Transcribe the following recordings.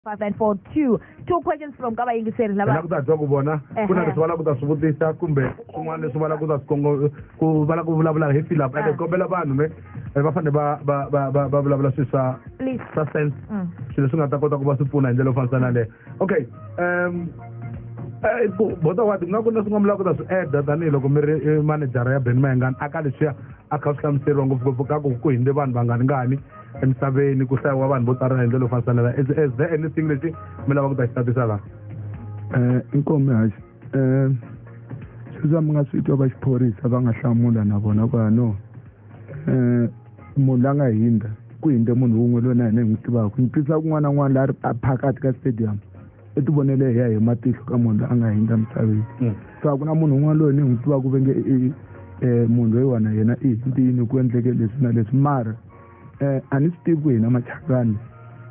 five and four two two questions from ka vayingiseri lava la ku ta twa ku vona ku na leswi va la ku ta swi vutisa kumbe swin'wana leswi va la ku ta swikongo ku va la ku vulavula hi philip ande kombela vanhu me eh, va fanele va va va va va vulavula swilo swa swa sense mm. swilo leswi nga ta kota ku va swi pfuna hi ndlela yo fambisana leyo okay um eh, bota wati ku nga ku na swin'wana mi lava ku ta swi eda tanihiloko mi ri eh, manejara ya ben mayengani a ka leswiya a kha swi hlamuseriwa ngopfungopfu ka ku ku hindze vanhu vangani ngani emisaveni ku hlayiwa vanhu vo tsarela hi ndlela yo fanisanela is there anything lexi mi lava ku ta xi tatisa laha um inkomi haxi um sweswa mi nga swi twa va xiphorisa va nga hlamula na vona ku ya no um munhu la nga hindza ku hindze munhu wun'we loyi na hina hi n'wi tivaka ni twisisa kun'wana na n'wana la a phakati ka stadium i ti vonele hi ya hi matihlo ka munhu loyi a nga hindza misaveni hmm. so a ku na munhu un'wana loyi ni n'wi tivaka ku venge um munhu loyiwana yena i hindini ku endleke leswi na leswi mara eh, a ni swi tivi ku hina machakani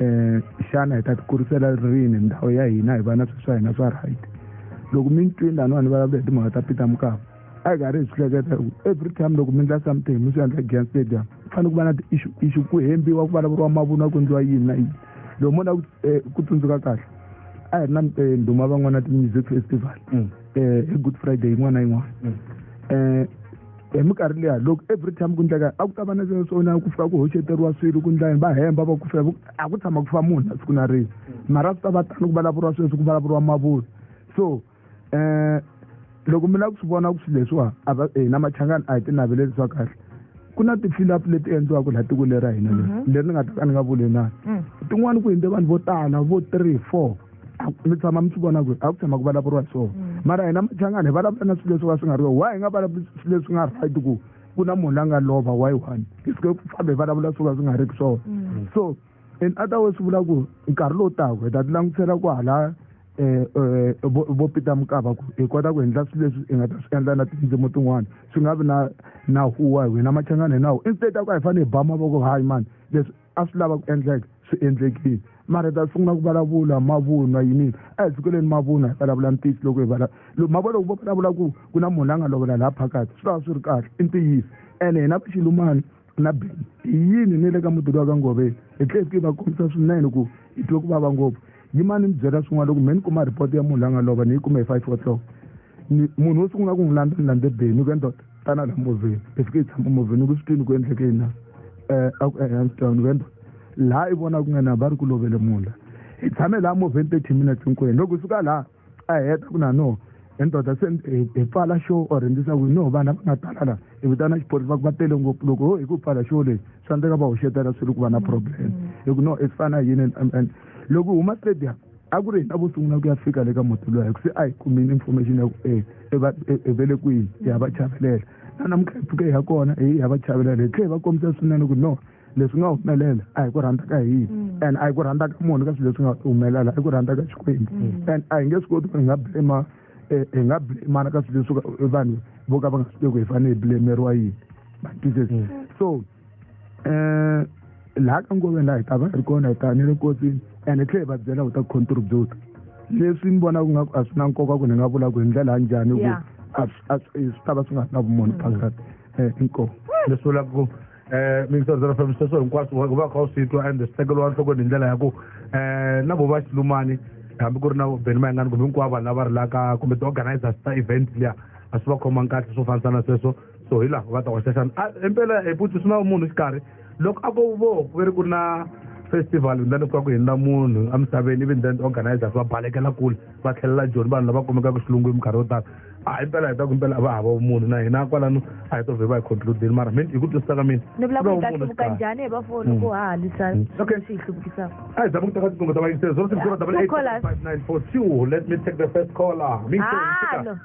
um xana hi ta tikurisela rini ndhawu ya hina hi va na swilo swa hina swa right loko mi ni twini laniwa ni vulavula hi timhaka ta peter mukava a hi karhi hi swi hleketa ku every time loko mi endla something mi swi endla against stadium ku fanele ku va na ti-issue issue ku hembiwa ku vulavuriwa mavunwa ku endliwa yini na yini loko mo na ku eh, tsundzuka kahle a hi ri na eh, ndhuma van'wana ti-music festival um hi good friday yin'wana na yin'wana um hi minkarhi leya loko every time ku ndleka a ku ta va na swona ku fika ku hoxeteriwa swilo ku ndlaya va hemba va ku fika a ku tshama ku fa munhu na siku na rini mara ku ta va tano ku vulavuriwa sweswi ku vulavuriwa mavula so um loko mi lava ku swi vona ku swilo leswiwa a va hina machangani a hi tinaveleli swa kahle ku na ti-filup leti endliwaka laha tiko leri ra hina leri mhm. leri ni nga ta ka ni nga vuli na mm. tin'wani ku hundze vanhu vo tala vo three four mi tshama mi swi vona ku a ku tshama ku vulavuriwa so mm. mara hina machangana hi vulavula na swilo leswi va swi nga ri why hi nga vulavuli swilo leswi nga right ku ku na munhu la nga lova why one hi sike ku famba hi vulavula swo ka swi nga ri ku swona mm. so in other way swi vula ku nkarhi lowu taka hi ta ti langutisela ku hala Eh, eh, vo peter mukava ku hi kota ku endla swilo leswi hi nga ta swi endla na tindzimi tin'wana swi nga vi na na huwa hi wena machangana hi nawu instead a ku a hi fanele hi ba mavoko hayi mani leswi a swi lava ku endleka swi endlekile mara hi ta sungula ku vulavula mavunwa yinini a hi sukeleni mavunwa hi vulavula ntiyiso loko hi vala loko mavona loko vo vulavula ku ku na munhu la nga lovela laha phakathi swi tava swi ri kahle i ntiyiso ene hina vaxilumani na beni hi yini ni le ka mudulu wa ka ngoveni hi tlhele hi fike va kombisa swinene ku hi twe ku vava ngopfu yimani ni byela swin'wana loko mhe ni kuma report ya munhu la nga lova ni yi kume hi five o'clock munhu wo sungula ku n'wi landza ni landze beni ku endoda tana la movheni hi fike hi tshama movheni ku swi twini ku endleke yini na um a ku ehansi tawni ku endoda laha i vona ku nga na va ri ku lovele munhu la hi tshame laha movheni thirty minutes hinkwenu loko hi suka laha a heta ku na no endoda se hi pfala xo or endlisa ku no vana va nga tala la hi vitana xiphorisa ku va tele ngopfu loko ho hi ku pfala xo lexi swa endleka va hoxetela swi ri ku va na problem hi ku no i fana yini and loko hi huma stadium a ku ri hina vo sungula ku ya fika le ka muti loyi hi ku se a hi kumile information ya ku e, e, e, e vele kwihi hi ya va chavelela na namuntlha hi pfuke hi ya kona hi ya va chavelela hi tlhe hi va kombisa swinene ku no leswi nga humelela a hi ku rhandza ka hina mm. and a hi ku rhandza ka munhu ka swilo leswi nga humelela a hi ku rhandza ka xikwembu mm. and a hi nge swi koti ku hi nga blema hi nga blemana ka swilo leswi vanhu vo ka va nga swi tivi ku hi fanele hi blemeriwa yini mm. so um laha ka nkoveni laha hi ta va hi ri kona hi ta ni le kosini ene tlhe hi va byela ku ta contribute leswi ni vona ku nga a swi na nkoka ku ni nga vula ku hi ndlela ya njhani ku swi ta va swi nga ri na vumunhu phakati um eh, inkomu leswi vula ku um eh, mintsondzela fambiseswo hinkwaswo u va kha u swi twa and swi tekeriwa enhlokweni hi ndlela ya ku um eh, na vo va xilumani hambi ku ri na beni mayingani kumbe hinkwavo vanhu lava rilaka kumbe ti-organizers ta event liya a swi va khomangi kahle swo fambisana sweswo so hi laha ku nga ta hoxa xana a impela hi putsi swi na munhu xikarhi loko a ko vo ku ve ri ku na festival then ku va ku hindza munhu emisaveni even then organizers va balekela kule va tlhelela joni vanhu lava kumekaka xilungwini minkarhi yo tala a hi mpela hi ta ku mpela a va hava vumunhu na hina kwalano a hi to vhe va hi concludini mara mi hi ku twisisa ka mina ni vula ku ta hluvuka njhani hi vafoni ku ha halisa okay swi hi hluvukisaka a hi zama ku teka tiqingho ta vayingiseri zero six zero double eight five nine four two let me take the first caller mi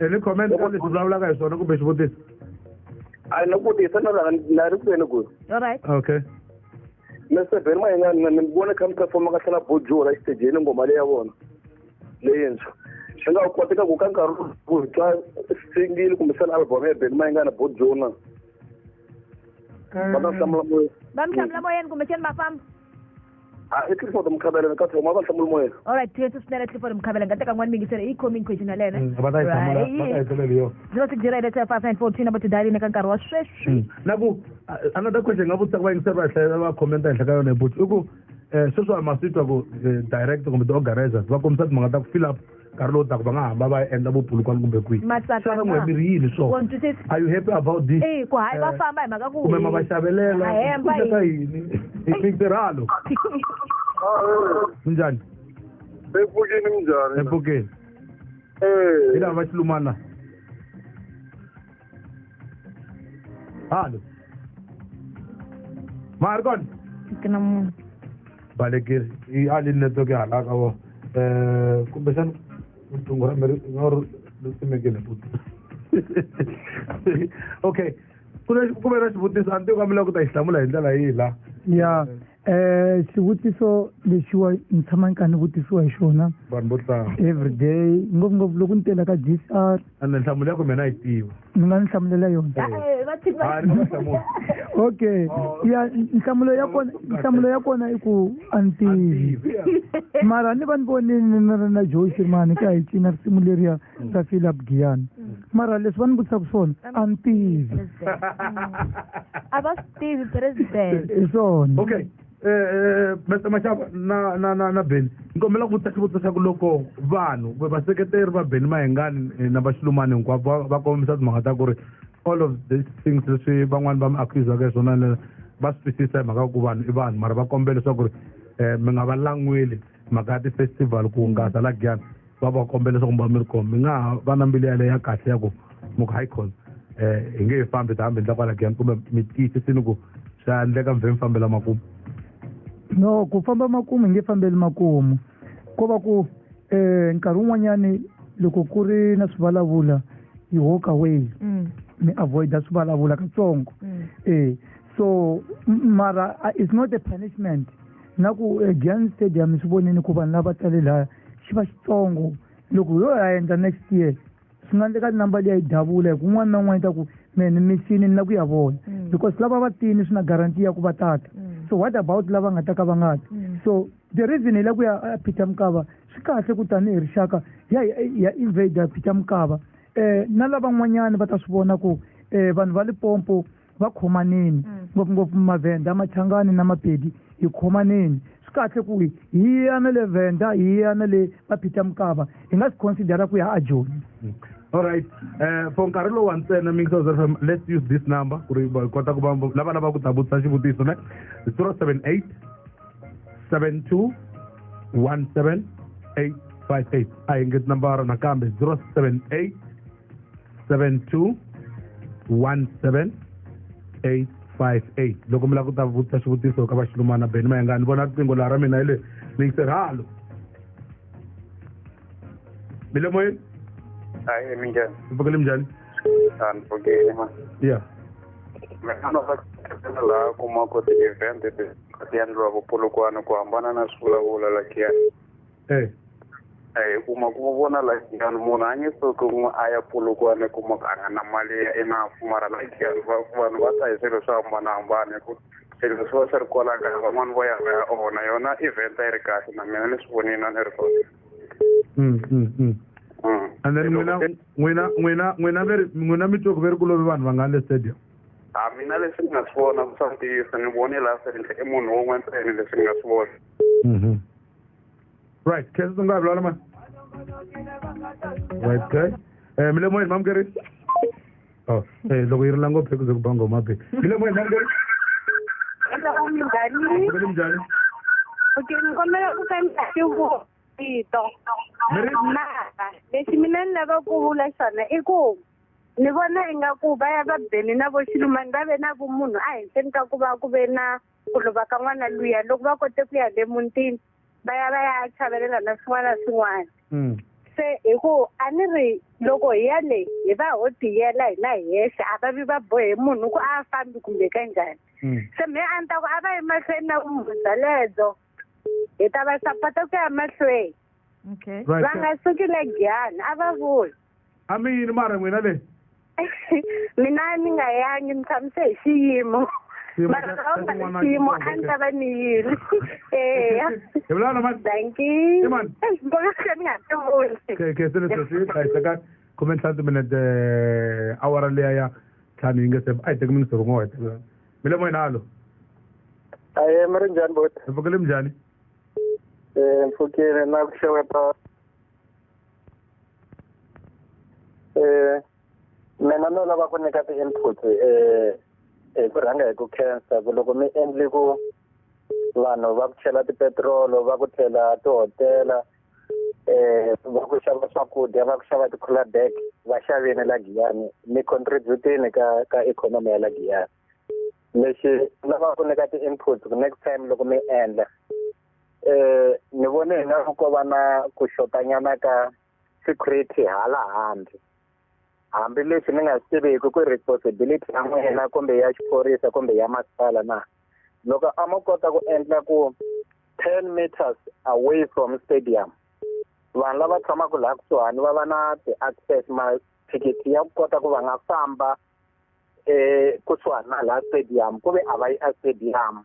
any comment ka leswi vulavulaka hi swona kumbe xivutiso a ni vutisa na rhanga na ri kwini ku all right okay mr ben mayengani ni vona kha mi performa ka tlhela bojo ra xitejeni ngoma leyi ya vona leyintshwa swi nga koteka ku ka nkarhi ku twa singile kumbe sani album ya ben mayengana bojona va ta hlamula moya va mi hlamula moyeni kumbexani va famba a e clifford mokhabela re ka thoma ba tlhamolo moya all right tse se nela clifford mokhabela nka teka ngwane mekisere e coming question ya lena mm, ba ta isa mola ba ta isa leo zero six zero eight five nine four two number to dial in ka nkarhi wa sweswi mm. naku another question nga vutisa ku va yingiseri va hlayela va commenta henhla ka yona hi buti i ku eh, sweswi a masitwa ku eh, direct kumbe ti-organizers va kombisa timhaka ta ku fill up nkarhi lowu taka va nga hamba va endla vupulukwana kumbe kwihi xana n'we mi ri yini so are you happy about this eh, ku hayi va eh, famba hi mhaka ku kumbe ma va xavelela ka yini mintirhalo minjhani epfukeni minjhani epfukeni eh. hi lava va xilumana halo ma ri kona ke na munhu balekile i a lini network ya hala ka vona um kumbexana riqingho ra mi ri nga ri ri simekile futi okay ku na ku ve na xivutiso a ni tivi ka mi lava ku ta xi hlamula hi ndlela yihi la ya um xivutiso lexiwa ni tshama ni kha ni vutisiwa hi xona vanhu vo tlanga every day ngopfungopfu loko ni tela ka g c r ande nhlamulo ya ku mina yi tiva ni nga ni hlamulela yona eh, eh, okay ya nhlamulo ya kona nhlamulo ya kona i ku a ni tivi mara ni va ni vonini ni ri na joe xirmani ka hi cina risimu leriya ta fila bugiyani mm. mara leswi va ni vutisaka swona a ni tivi a va swi tivi president hi swona okay eh, eh, maxava na na na na beni ni kombela ku vutisa xivutiso xa ku loko vanhu vaseketeri va beni mahengani eh, na vaxilumani hinkwavo va kombisa timhaka ta ku ri all of these things leswi van'wani va mi accusaka hi swona va swi twisisa hi mhaka ku vanhu i vanhu mara va kombela leswaku ri um mi nga va lan'weli mhaka ya ti-festival ku hungasa la giyana va va kombela leswaku mi va mi ri kona mi nga ha va na mbilu yaleyo ya kahle ya ku mi ku hayi khona um hi nge hi fambi ta hambi ndla kwala giyani kumbe mi tiyisisini ku swa endleka mi vhe mi fambela makumu no ku famba makumu hi nge fambeli makumu ko va ku um nkarhi wun'wanyani loko ku ri na swivulavula yi walk away mm. mi avoida swivulavula katsongo mm. e so mara it's not a punishment na ku eh, giant stadium swi vonini ku vanhu lava tale laya xi va xitsongo loko ho ya endla next year swi nga endleka number leyi a yi davula hi ku un'wana na un'wana yi ta ku mehe ni misini ni na ku ya vona mm. because lava va tini swi na guarantee ya ku va tata mm. so what about lava nga ta ka va nga ti mm. so the reason hi la ku ya peter mukava swi kahle ku tanihi rixaka ya ya invader peter mukava um na lavan'wanyani va ta swi vona ku um vanhu va lipompo va khomaneni mm. ngopfungopfu mavhenda machangani na mapedi hi khomaneni swi kahle ku hi hi ya na le vhenda hi ya na le maphita mukava hi nga swi considera ku ya a joni mm. alright um for nkarhi lowu wa ntsena mixos f m let's use this number ku ri kota ku va lava lava ku ta vutisa xivutiso ne zero seven eight seven two one seven eight five eight a hi ngeti nambara nakambe zero seven eight 72 17858 loko mi lava ku ta vutisa xivutiso ka vaxilumana beni mayenga ni vona riqingho laha ra mina hi le ni yise halo mi le moyeni hayi mi njhani mi pfukele mi njhani a ni pfukile ma ya mina no va laha kumaka ti-event ti endliwaka polokwane ku hambana na swivulavula lakiya eh eh kuma kuma vona la yani munhu a nge soki n'wi a ya pulukiwa ni kuma a nga na mali ya i na pfumala la yani vanhu va ta hi swilo swo hambanahambana hi ku swilo swi va swi ri kwala kaya van'wani vo ya va ya onha yona event a yi ri kahle na mina ni swi vonini a ni ri kona mm, mm, mm. mm. and then n'wina n'wina n'wina n'wina veri n'wina mi twe ku veri ku lovi vanhu va nga le stadium a ah, mina leswi ni nga swi vona ku swa ntiyiso ni vone laha serinhle i munhu wun'we ntsene leswi ni nga swi vona mm-hmm. right khesa ndzi nga ha vulavula mani right guy um mi le moyeni mamukeri o oh, eh, loko yi ri la ngopfu ekuze ku ba ngoma be mi le moyeni mamukeri minjani minjani okay ni kombela ku fambisa xivuko vito mara lexi mina ni lava ku vula xona i ku ni vona ingaku va ya va beni na vo xilumani va ve na vumunhu ehenhleni ka ku va ku ve na ku lova ka n'wana luya loko va kote ku ya le mutini va ya va ya chavelela na swin'wana na swin'wana hmm. se hi ku a ni ri loko hi ya le hi va ho tiyela hina hi yexe a va vi va bohe munhu ku a fambi kumbe ka njhani hmm. se me a ni ta ku a va yi mahlweni na vumhunu bya ledzo hi ta va sapota ku ya mahlweni va nga suki le giyani a va vuli a mi yini mara n'wina le mina ni nga yangi ni tshamise hi xiyimo Xiyimo mara xa- lava xa nga xin'wana ni xiyimo a ni ta va ni yini eya hi vulavula na mani danki Imani. mbona se ni nga ti vuli Ke- ke se ni sweswi a yi teka khume ntlhanu timinete awara liya ya ntlhanu yi nge se a yi teki minisi rin'we wa yi teka mi le moyeni halo aye mi ri njhani boti hi pfukele mi njhani um pfukile na ku xeweta eh mina no lava ku nyika ti-input eh hi ku rhanga hi ku khensa ku loko mi endli ku vanhu va ku chela tipetirolo va ku tlhela tihotela eh va ku xava swakudya va ku xava ti-cooler bag va xavini la giyani mi contribute-ini ka ka ikhonomi ya la giyani lexi lava ku nyika ti-inputs ku next time loko mi endla um ni vone hi nga ko va na ku xotanyana ka security hala handle hambileswi ni nga swi tiviki ku responsibility ya n'wina kumbe ya xiphorisa kumbe ya masipala na loko a mo kota ku endla ku ten meters away from stadium vanhu lava tshamaka laha kusuhani va va na ti-access mathikithi ya ku kota ku va nga famba eh kusuha na la stadium ku ve a va yi a stadium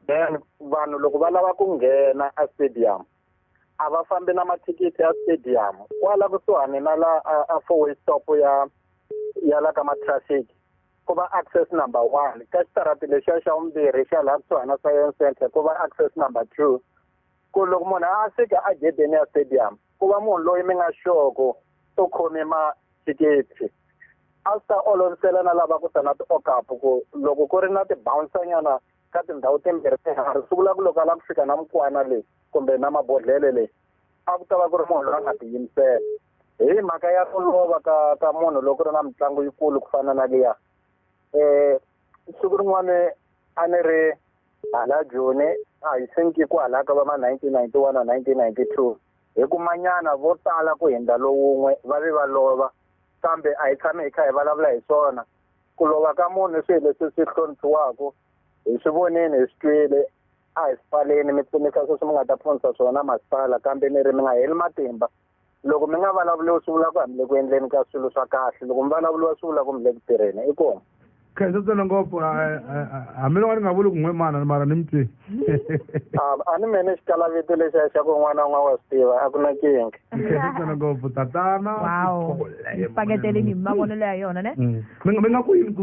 then vanhu loko va lava ku nghena a stadium a va fambi na mathikithi ya stadium kwala kusuhani na la a four way stop ya ya la ka matraffic ku va access number one ka xitarati lexiya xa vumbirhi xa laha kusuhani na science center ku va access number two ku loko munhu a fika a gedeni ya stadium ku va munhu loyi mi nga xoko u khome ma thikithi a swi ta olovisela na lava ku ta na ti-okapu ku loko ku ri na tibawunsanyana ka tindhawu timbirhi tinharhu swi vula ku loko a lava ku fika na mukwana leyi kumbe na mabodhlele leyi a ku ta va ku ri munhu loyi a nga tiyimisela hi mhaka ya ku lova ka ka munhu loko ri na mitlangu yikulu ku fana na liya um siku rin'wana a ni ri hala joni a hi senkiku halaka va ma nineteen ninety one na nineteen ninety two Hi kumanyana vo tala ku hundza lowun'we va vi va lova, kambe a hi tshami hi kha hi vulavula hi swona. Ku lova ka munhu i swilo leswi swi hloniphiwaka, hi swi vonile, hi swi twile. A hi swi pfaleni, mi pfunisa sweswi mi nga ta pfunisa swona masipala, kambe ni ri mi nga heli matimba. Loko mi nga vulavuriwi swi vula ku a mi le ku endleni ka swilo swa kahle, loko mi vulavuriwa swi vula ku mi le ku tirheni. Inkomu. khensa tsena ngopfu hambiloko a ni nga vuli ku n'we mana ni mara ni mi twi a ni mene xitala vito lexi a xa ku n'wana n'wa wa swi tiva a ku na kinga khensa tsena ngopfu tatana paketele ni mavonelo ya yona ne mm. mi nga ku yini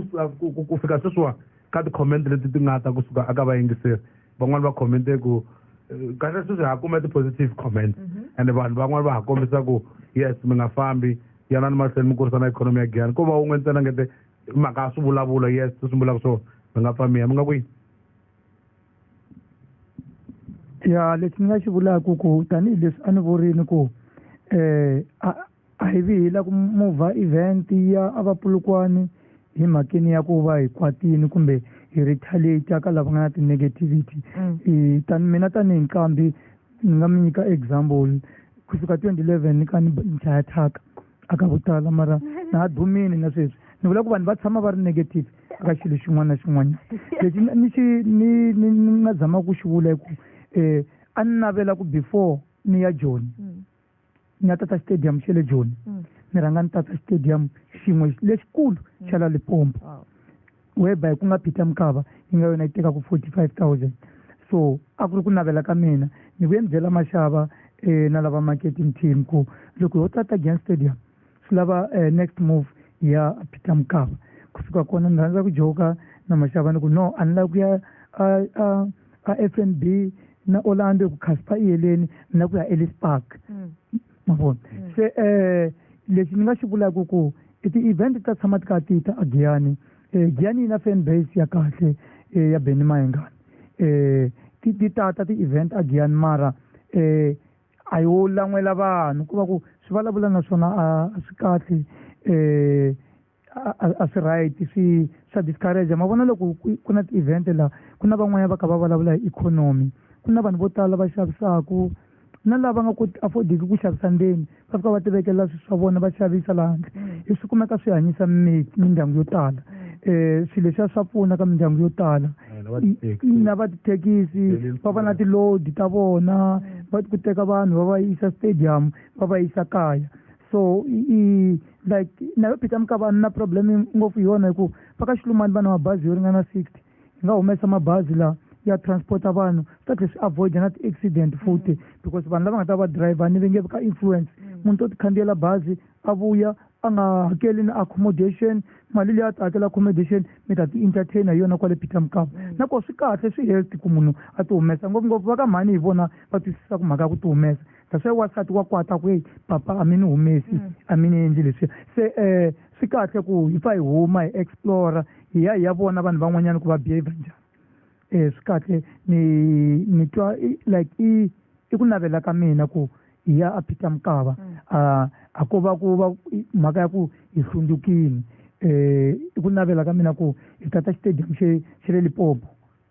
ku fika sweswiwa ka ti-comment leti ti nga ta kusuka aka vayingiseri van'wani va commente ku eh, kahle sweswi ha kume ti-positive comment mhm. and vanhu van'wani va ha kombisa ku yes mi nga fambi yanani mahlweni mi kurisana ikhonomi ya giyani ko va wun'we ntsena ngete hi mhaka ya swivulavulo yes swi sungulaka swo mi nga pfa miya mi nga kwihi ya lexi ni nga xi vulaka ku tanihileswi a ni vurini ku um eh, a hi vi hi la ku mova event ya a vapulukwani hi mhakeni ya ku va hi kwatini kumbe hi retaliate ka lava nga na ti-negativity mm. tani mina tanihi nqambi ni nga mi nyika example kusuka twenty eleven ka ni nchaya thyaka a ka ku tala mara na ha dumini na sweswi ni vula ku vanhu va tshama va ri negative ka xilo xin'wana na xin'wanyana lexi ni xi ni ni ni nga zama ku xi vula hi ku um a ni navela ku before ni ya joni mm. ni ya tata stadium xe le joni mm. ni rhanga ni tata stadium xin'we lexikulu mm. xa la lipompo whereby ku nga peter mukava yi nga yona yi tekaka forty five thousand so a ku ri ku navela ka mina ni vuye ni byela maxava um na lava marketing team ku loko ho tata gen stadium swi lava um next move ya peter mukava kusuka kona ni rhandza ku joka na maxava ni ku no a ni lava ku ya a f n b na orlando ku khaspa iyeleni ni lava ku ya ellis park mm. ma vona mm. se um lexi ni nga xi vulaka ku i ti-event ta tshama ti ka ti ta agiyani um eh, giyani yi na fan base ya kahle um ya beni mayengani um ti ti tata ti-event agiyani mara um a yo lan'wela vanhu ku va ku swi vulavula na swona a swi kahle um a swi right swi swa discourage ma vona loko ku na ti-event laha ku na van'wanyana va kha va vulavula hi ikhonomi ku na vanhu vo tala va xavisaku na lava nga koti affordiki ku xavisa ndzeni va fika va ti vekela swilo swa vona va xavisa laha handle mm. hi swi kumeka swi hanyisa mindyangu yo tala um swilo leswiya swa pfuna ka mindyangu yo tala eh, na va tithekisi va va na tilodi ta vona mm. va ku teka vanhu va va yisa stadium va va yisa kaya so i like nayo peter mukavani na problem ngopfu hi yona hikuva va ka xilumani va na mabazi yo ringana sixty hi nga humesa mabazi lawa ya transporta vanhu swi ta tlhe swi avoida na ti-accident futhi because vanhu lava nga ta va driver ni va nge ka influence munhu to tikhandziyela bazi a vuya a nga hakeli na accommodation mali leyi a ta hakela accommodation mi ta ti-entertain hi yona kwale peter mukava nakoho swi kahle swi healthy ku munhu a ti humesa ngopfungopfu va ka mhani hi vona va twisisaka mhaka ya ku ti humesa kasi ya wasati wa kwata ku eyi papa a mi ni humesi mm. a mi ni endli leswiya se um swi kahle ku hi pfa hi huma hi explora hi ya hi ya vona vanhu van'wanyana ku va behavior njhani um swi kahle ni ni twa like i i ku navela ka mina ku hi ya a peter mukava mm. a a ko va ku va mhaka ya ku hi hlundzukile um i ku navela ka mina ku hi tata xitadium xe xe le lipopo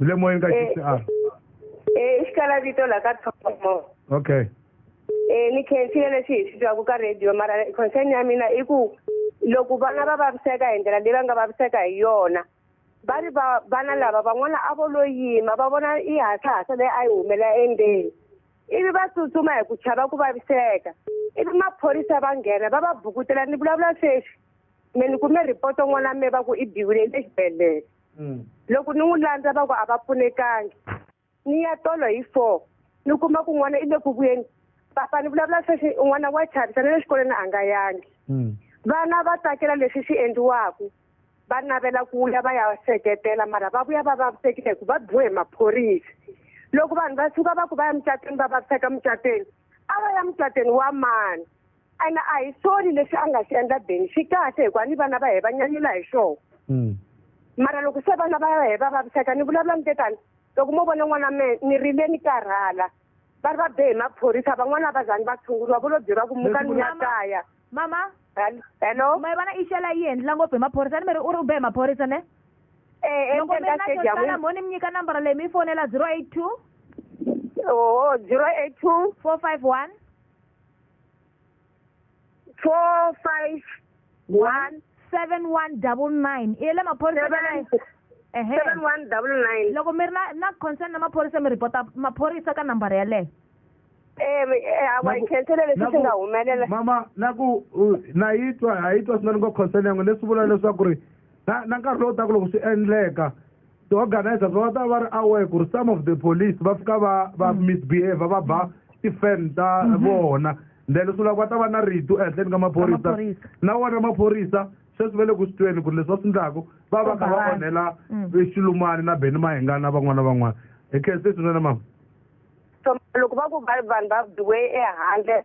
ni le moyeni ka Eh. xisialo Eh, i xikala vito la ka thomo okay Eh, ni khensile leswi hi swi twaku ka radio mara concern ya mina i ku loko vana va vaviseka hi ndlela leyi va nga vaviseka hi yona va ri va- vana lava van'wana a vo lo yima va vona i hasahasa leyi a yi humela endzeni ivi va tsutsuma hi ku chava ku vaviseka ivi maphorisa va nghena va va bukutela ni vulavula sweswi me ni kume report-o n'wana me va ku i biwile exibedhlele hmm. loko ni n'wi landza va ku a va pfunekangi ni ya tolo hi four ni kuma ku n'wana i le ku vuyeni papa ni vulavula sweswi n'wana wa chavisa na le xikolweni a nga yangi hmm. vana va tsakela leswi swi endliwaka va navela ku ya va ya seketela mara va vuya va vavisekile hi ku va biwe hi maphorisa loko vanhu va suka va ku va ya mucatweni va vaviseka mucatweni a va ya mucatweni wa mani ene a hi soni lexi a nga xi endla beni xi kahle hikuva ni vana va hina va nyanyula hi xona Mm. mara loko se vana va hina va vaviseka ni vulavula ni tetani loko mo vona n'wana me ni rile ni karhala va ri va be hi maphorisa van'wana a va zangi va tshunguriwa vo lo byeriwa ku muka ni ya kaya mama Hel- hello ma yi vona i xela yi endlela ngopfu hi maphorisa ni mi ri u ri u be hi maphorisa ne Eh, loko mi endzeni ri ka na stadium xosala mo ni mi nyika nambara leyi mi yi fonela zero eight two oho zero eight two four five one four five one seven one double nine i ya le maphorisa ka Seven- nine- ehe seven one double nine loko mi ri na na concern na maphorisa mi report maphorisa ka nambara yaleyo Eh, mi- eh, hawa hi Naku- khenthele leswi naku- swi nga humelela mama na ku u- na yi twa ha yi twa swinene ngo concern yangu leswi vula leswaku ri na na nkarhi lowu taka loko swi endleka ti-organizers va ta va ri aware ku ri some of the police va fika va va mm. misbehavior va ba ti-fan ta mm-hmm. vona then swi lava va ta va na ritu ehenhleni ka maphorisa na wona maphorisa sweswi va le ku swi tweni ku ri leswi va swi endlaku va va kha va onhela mm. xilumani na beni mahingana van'wana na van'wana hi khe se swinene mama loko va ku vanhu va biwe ehandle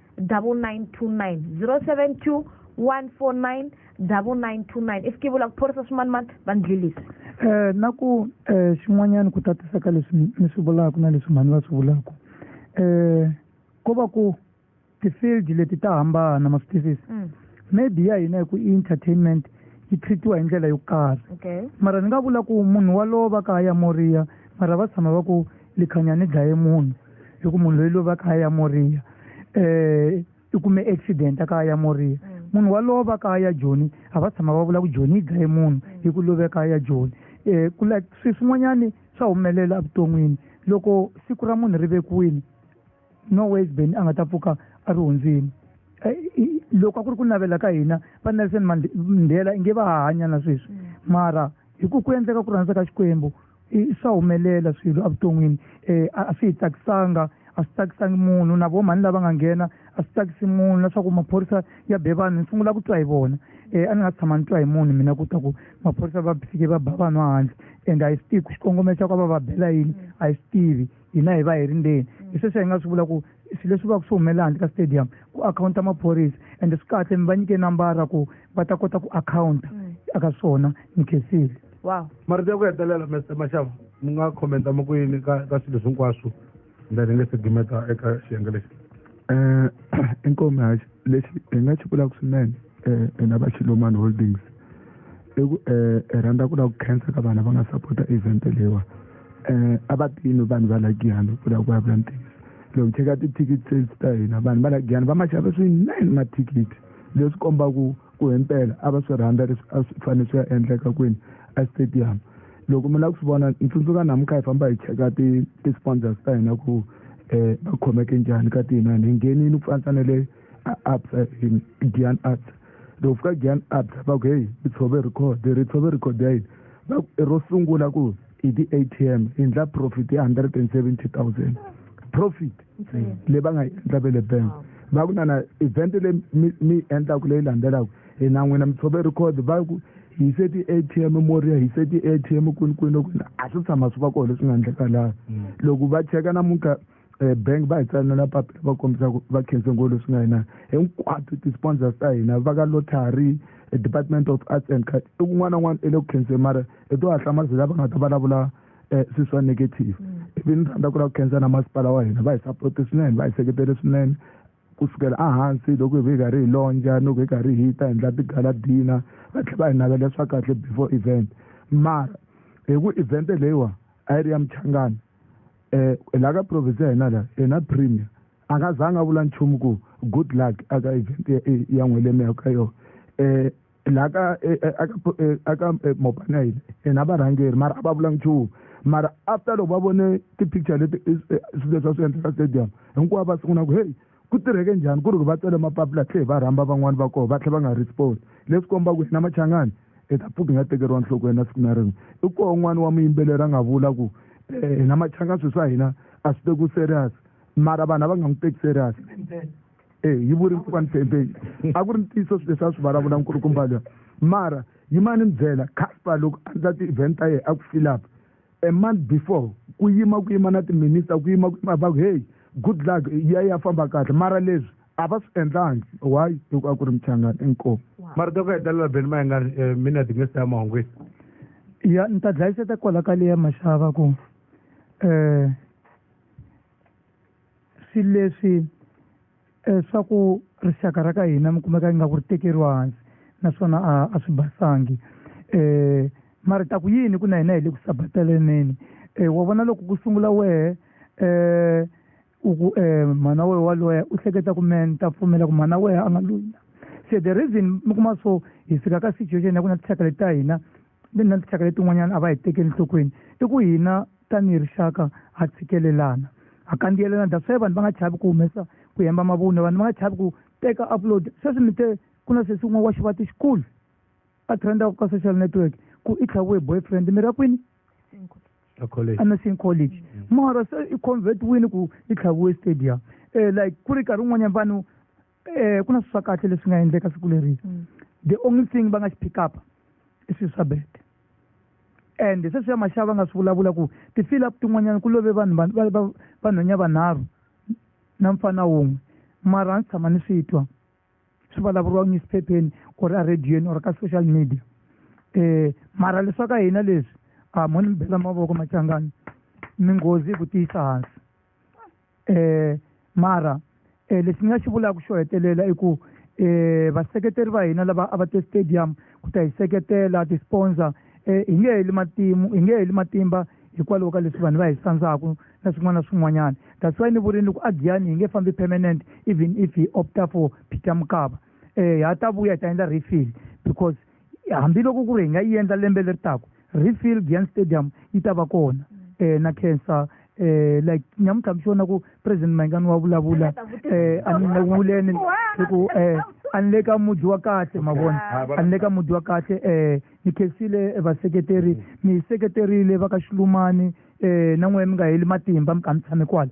double nine two nine zero seven two one four nine double nine two nine i fikivula ku phorisa swimanimani va ni dlilisa um na ku um eh, xin'wanyana ku tatisa ka leswi ni swi vulaka na leswi mhani va swi vulaka um eh, ko va ku ti-field leti ta hambana ma swi twisisi mm. maybe ya hina hi ku entertainment yi treatiwa hi ndlela yo karhi mara ni nga vula ku munhu walowo va ka ya moriya mara va tshama va ku likhanyani dlaye munhu hi ku munhu loyi lova kaya ya moriya um i kume accident a kaya ya moriya mm. munhu walowo va kaya ya joni a va tshama va vula ku joni yi dlaye munhu mm. hi ku love kaya ya joni um ku like swi swin'wanyani swa humelela evuton'wini loko siku ra munhu ri vekiwini no ways ben a nga ta pfuka a ri hundzini eh, loko a ku ri ku navela ka hina va nelson mandela inge va ha hanya na sweswi mm. mara hi ku ku endleka ku rhandza ka xikwembu swa humelela swilo evuton'wini um a swi hi tsakisanga a swi tsakisangi munhu na vomhani lava nga nghena a swi tsakisi munhu na swa ku maphorisa ya be vanhu ni sungula ku twa hi vona um a ni nga si tshama ni twa hi munhu mina ku ta ku maphorisa va fike va ba vanhu a handle and a hi swi tivi ku xikongomelo xa ku va va bela yini a hi swi tivi hina hi va hi ri ndzeni hi sweswo hi nga swi vula ku swilo leswi va ku swi humelela handle ka stadium ku akhawunta maphorisa ende swi kahle mi va nyike nambara ku va ta kota ku akhawunta mm. aka swona ni khensile wow marito ya ku hetelela mr maxava mi nga khomenta mi ku yini ka ka swilo hinkwaswo ndani nge se gimeta eka xiyenge lexi um inkomi haxi lexi hi nga xi vulaka swinene um hina va xilomani holdings i ku um hi rhandza ku lava ku khensa ka vanhu va nga sapota event leyiwa um a va tini vanhu va la giyani ku lava ku vulavula ntiyiso loko cheka ti-ticket sales ta hina vanhu va la giyani va ma xava swinene mathikithi leswi kombaka Ku himpela a va swi rhandza leswi a swi fanele swi ya endleka kwini estadium. Loko mi lava ku swi vona, ni tsundzuka namuntlha hi famba hi cheka ti-sponsors ta hina ku va khomeke njhani ka tiinani. Hi nghenile ku fanisa na le Absa, Giyani Absa. Loko fika Giyani Absa va ku, Heyi, mi tshove record. Hi ri, Hi tshove record ya yini? Va ku, I ro sungula ku hi ti-A_T_M hi endla profit ya 170,000 profit. leyi va nga yi endla ve le bank va ku nana event leyi mi mi yi endlaku leyi landzelaka hi na n'wina mi tshove record va ku hi se ti-a t m moria hi se ti-a t m kwini kwini loko a swi tshama swi va kona leswi nga endleka laha mm. loko va cheka namuntlha um bank va hi tsalela papila va kombisa ku va khense ngo leswi nga hina hinkwato ti-sponsors ta hina va ka lottery department of arts and card i kun'wana na un'wana i le ku khenseni mara i to hatla mazila va nga ta vulavula um eh, swi swa negative mm. ivi ni rhandza ku lava ku khensa na masipala wa hina va hi support swinene va hi seketele swinene ku sukela ehansi loko hi ve hi karhi hi lonja loko hi karhi hi ta endla tigala dina va tlhe va hi navela swa kahle before event mara hi ku event leyiwa a yi ri ya muchangana um eh, la ka province ya hina la hina premier a nga zanga a vula nchumu ku good luck aka event ya n'welemeya ka yona um eh, laha ka eh, eh, eh, aka mopana yini ena varhangeri mara a va vula nchumu mara after loko va vone ti-picture leti swilo leswi va swi endleka stadium hinkwavo va sungula ku heyi ku tirheke njhani ku ri va tsele mapapila tlhe va rhamba van'wani va koho va tlhe va nga respond leswi komba ku hina machangani hi ta pfuka hi nga tekeriwa nhlokweni na siku na rin'we i koho n'wana wa muyimbeleri a nga vula ku hina machangani swilo swa hina a swi teku serious mara vanhu a va nga n'wi teki serious e yi vuri mpfukani fembeni a ku ri ntiyiso swi leswi a swi vulavula nkulukumba loyi mara yimani mi byela casper loko a ndla ti-event ta yena a ku filapa a month before ku yima ku yima na timinister ku yima ku yima va ku heyi good luck ya ya famba kahle mara leswi a va swi endlangi why loko a ku ri michangani inkomo mara to ku hetelela beni ma nga eh, mina timinista ya mahungwini ya ni ta dlayiseta kwala ka leya maxava ku um swilo leswi eh, swa ku rixaka ra ka hina mi kumeka ingaku ri tekeriwa hansi naswona a a swi basangi um mara ta ku yini ku na hina hi le ku sabataleneni um wa vona loko ku sungula wehe um u ku um mhana wehe wa loya u hleketa ku me ni ta pfumela ku mhana wehe a nga loyi na se the reason mi kuma so hi fika ka situation ya ku na tixaka leti ta hina na tinxaka letin'wanyana a va hi tekeli nhlokweni i ku hina tanihi rixaka ha tshikelelana ha kandziyelana that's why vanhu va nga chavi ku humesa ku hemba mavunwa vanhu va nga chavi ku teka upload sweswi mi te ku na sesi un'we wa xivati xikulu a trenda ka social network ku i tlhaviwe boyfriend mi ra kwini anasing college mara se i convert wini ku i tlhaviwe stadium um like ku ri nkarhi wun'wanyana vanhu eh ku na swi swa kahle leswi nga endleka siku leri mm. the only thing va nga xi pick up i swilo swa bete and sweswi ya maxava va nga swi vulavula ku ti-fill up tin'wanyana ku love vanhu vanhwenya vanharhu na mfana wun'we mara a ndzi tshama ni swi twa swi vulavuriwa newsphepheni or a radiyweni or ka social media um mara leswa ka hina leswi a mo ni mi bela mavoko machangani minghozi yi ku tiyisa hansi eh mara eh lexi ni nga xi vulaka xo hetelela i ku eh vaseketeri va hina lava a va te stadium ku ta hi seketela ti-sponsor eh hi nge heli matimu hi nge heli matimba hikwalaho ka leswi vanhu va hi sandzaka na swin'wana na swin'wanyana that's why ni vurini ku a giyani hi nge fambi permanent even if hi opta for peter mukaba eh ha ta vuya hi ta endla refill because hambiloko ku ri hi nga yi endla lembe leri taku refill giant stadium yi ta va kona um na cancer eh like nyamutlha mi xona ku president mayingani wa vulavula eh a ni le wuleni hi ku eh a ni le ka mudyi wa kahle ma vona a ni le ka mudyi wa kahle eh ni khensile vaseketeri mi hi seketerile va ka xilumani eh na n'wehe mi nga heli matimba mi kha mi tshame kwala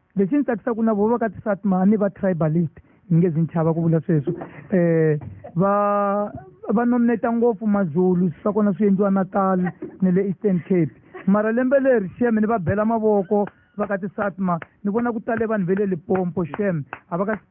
lexi ni tsakisa ku na vo va ka tisatma a ni va tribalist ni nge zi ni chava ku vula sweswo um va va nominata ngopfu mazulu swa kona swi endliwa natal ni le eastern cape mara lembe leri shem ni va bela mavoko va ka tisatma ni vona ku tale vanhu ve le lipompo shem a va ka